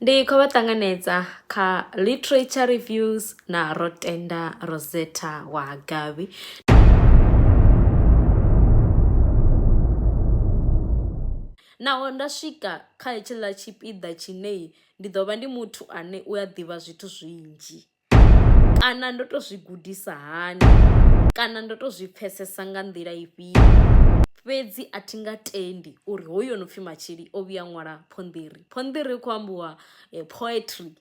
ndi khou vha ṱanganedza kha literature reviews na rotenda rosetta wa gavi naho nda swika kha hetshiḽa tshipiḓa tshine ndi ḓo vha ndi muthu ane u a ḓivha zwithu zwinzhi. kana ndo to zwi gudisa hani kana ndo to zwi pfesesa nga nḓila ifhio fhedzi a thi nga tendi uri hoyu ono pfhi Matshili o vhuya ṅwala phonḓiri. Phonḓiri hu kho ambiwa poetry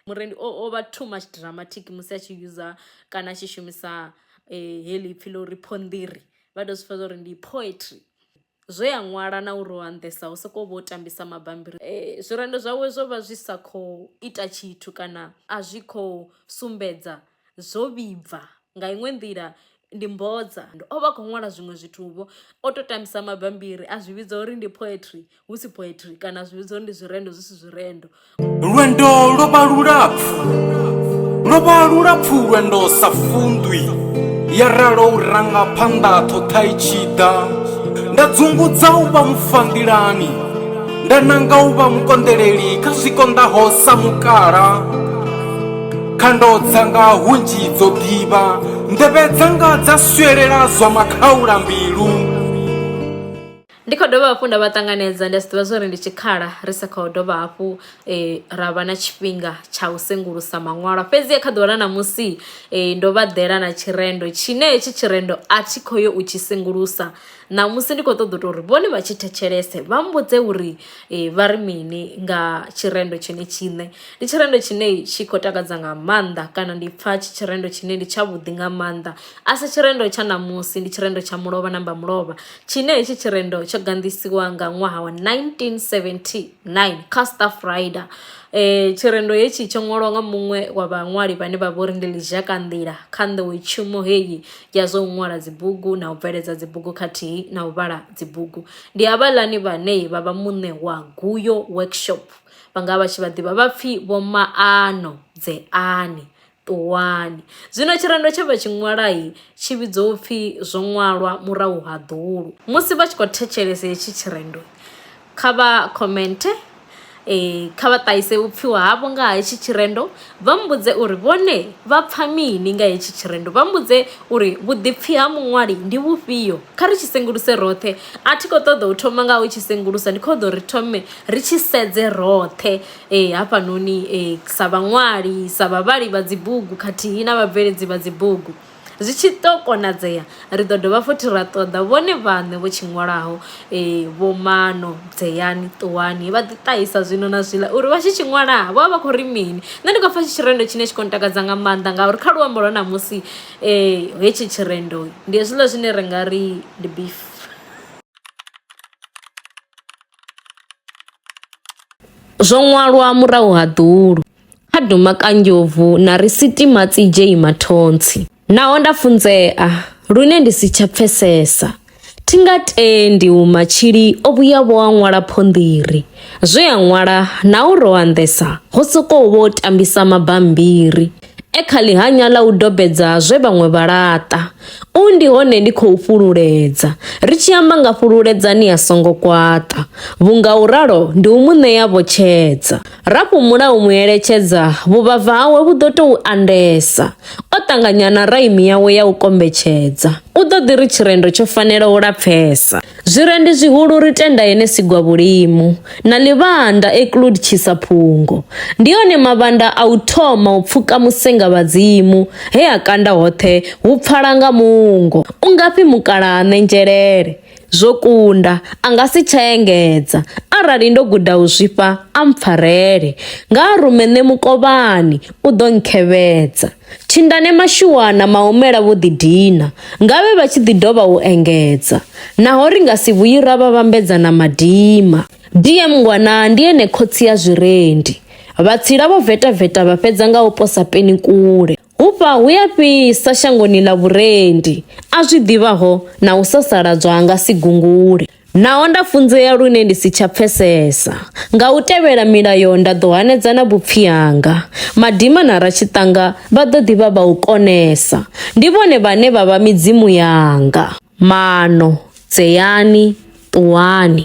murendi o vha too much dramatic musi a tshi user kana a tshi shumisa heḽi ipfhi ḽa uri phonḓiri vha to zwi pfha zwori ndi poetry. zwe a ṅwala na uri o anḓesa hu sokou vho tambisa mabambiri e, zwirendo zwawe zwo vha zwi sa khou ita tshithu kana a zwi khou sumbedza zwo vhibva nga iṅwe nḓila ndi mbodza o vha khou ṅwala zwiṅwe zwithu-vho o to tambisa mabambiri a zwi vhidza uri ndi poetry hu si poetry kana a zwi vhidza uri ndi zwirendo zwi si zwirendo lwendo lwo vha lulapfu lwo vha lulapfu lwendo sa fundwi ya ralo u ranga phanḓa ṱhoṱha i tshi ḓa nda dzungudza u vha mufandilani nda nanga u vha mukonḓeleli kha zwi konḓaho sa mukala khando dzanga hunzhi dzo ḓivha nḓevhe dzanga dza swelela zwa makhaula mbilu Ndi kho dovha hafhu nda vha ṱanganedza ndi a zwi ḓivha zwori ndi tshikhala ri sa kho dovha hafhu ra vha na tshifhinga tsha u sengulusa maṅwalwa fhedzi kha ḓuvha ḽa ṋamusi ndo vha ḓela na tshirendo tshine hetshi tshirendo a thi kho yo u tshi sengulusa ṋamusi ndi kho ṱoḓa u to uri vhone vha tshi thetshelese vha mbudze uri vha ri mini nga tshirendo tshine tshiṋe ndi tshirendo tshine tshi khou takadza nga maanḓa kana ndi pfha tshi tshirendo tshine ndi tsha vhuḓi nga maanḓa a si tshirendo tsha ṋamusi ndi tshirendo tsha mulovha namba mulovha tshine hetshi tshirendo tsho ganḓisiwa nga ṅwaha wa 1979 kha Staff Rider. Eh tshirendo hetshi tsho ṅwalwa nga muṅwe wa vhaṅwali vhane vha vhori ndi Lizhaka Nḓila kha nḓowetshumo heyi ya zwa u ṅwala dzibugu na u bveledza dzibugu khathihi na u vhala dzibugu. Ndi havhaḽani vhane vha vha muṋe wa Guyo Workshop vha nga vha tshi vha ḓivha vha pfhi vho Maano Dzeani. Ṱuwani. Zwino tshirendo tshe vha tshi ṅwala tshi vhidzwa u pfi Zwo Ṅwalwa Murahu ha Ḓulu. Musi vha tshi khou thetshelesa hetshi tshirendo, kha vha khomenthe, kha vha ṱahise vhupfiwa havho nga ha hetshi tshirendo, vha mbudze uri vhone vha pfa mini nga hetshi tshirendo. Vha mbudze uri vhuḓipfi ha muṅwali ndi vhufhio. Kha ri tshi senguluse roṱhe. A thi khou ṱoḓa u thoma nga u tshi sengulusa, ndi khou ṱoḓa uri ri thome ri tshi sedze roṱhe. hafhanoni sa vhaṅwali, sa vhavhali vha dzi bugu khathihi na vhabveledzi vha dzi bugu. Zwi tshi ḓo konadzea, ri ḓo dovha futhi ra ṱoḓa vhone vhaṋe vho tshi ṅwalaho Vho Maano, Dzeyani, Ṱuwani, vha ḓi ṱahisa zwino na zwiḽa uri vha tshi tshi ṅwala vho vha vha khou ri mini. Nṋe ndi khou pfa tshi tshirendo tshine tshi khou ntakadza nga maanḓa ngauri kha luambo lwa ṋamusi hetshi tshirendo ndi hezwiḽa zwine ra nga ri ndi beef. Zwo ṅwalwa murahu ha ḓulu, kha duma kanjovhu na ri sitima tsi dzhei mathontsi. Naho nda funzea lune ndi si tsha pfesesa, thi nga tendi u matshili o vhuya vho a ṅwala phonḓiri. Zwe a ṅwala na u ro anḓesa ho sokou vho tambisa mabambiri. E kha ḽihanya ḽa u dobedza zwe vhaṅwe vha laṱa, U ndi hone ndi khou fhululedza, ri tshi amba nga fhululedzani a songo kwaṱa, vhunga u ralo ndi u mu ṋea vhotshedza. Ra fhumula u mu eletshedza, vhuvhava hawe vhu ḓo tou andesa, o ṱanganya na raimi yawe ya u kombetshedza, u ḓo ḓi ri tshirendo tsho fanela u lapfesa. Zwirendi zwihulu ri tenda yene sigwa vhulimu na ḽivhanda eklud tshisa phungo. Ndi yone mavhanda a u thoma u pfuka musenga vhadzimu he a kanda hoṱhe hu pfala nga mungo. U ngafhi mukalaha ṋenzhelele? Zwo kunda, a nga si tsha engedza. Arali ndo guda u zwifha, a mpfarele. Nga a rume nṋe mukovhani, u ḓo nkhevhedza. Thindane Mashuana Maumela vho ḓidina, nga vhe vha tshi ḓi dovha u engedza, Naho ri nga si vhuyi ra vha vhambedza na madima. DM Ngwana ndi ene khotsi ya zwirendi, Vhatsila vho vetaveta vha fhedza nga u posa peni kule. Hufha hu ya fhisa shangoni ḽa vhurendi, A zwi ḓivhaho na u sasaladzwa ha nga si gungule. Naho nda funzea lune ndi si tsha pfesesa, nga u tevhela milayo nda ḓo hanedza na vhupfi hanga. Madima na ratshiṱanga vha ḓo ḓi vha vha u konesa, ndi vhone vhane vha vha midzimu yanga. Maano, Dzeani, ṱuwani!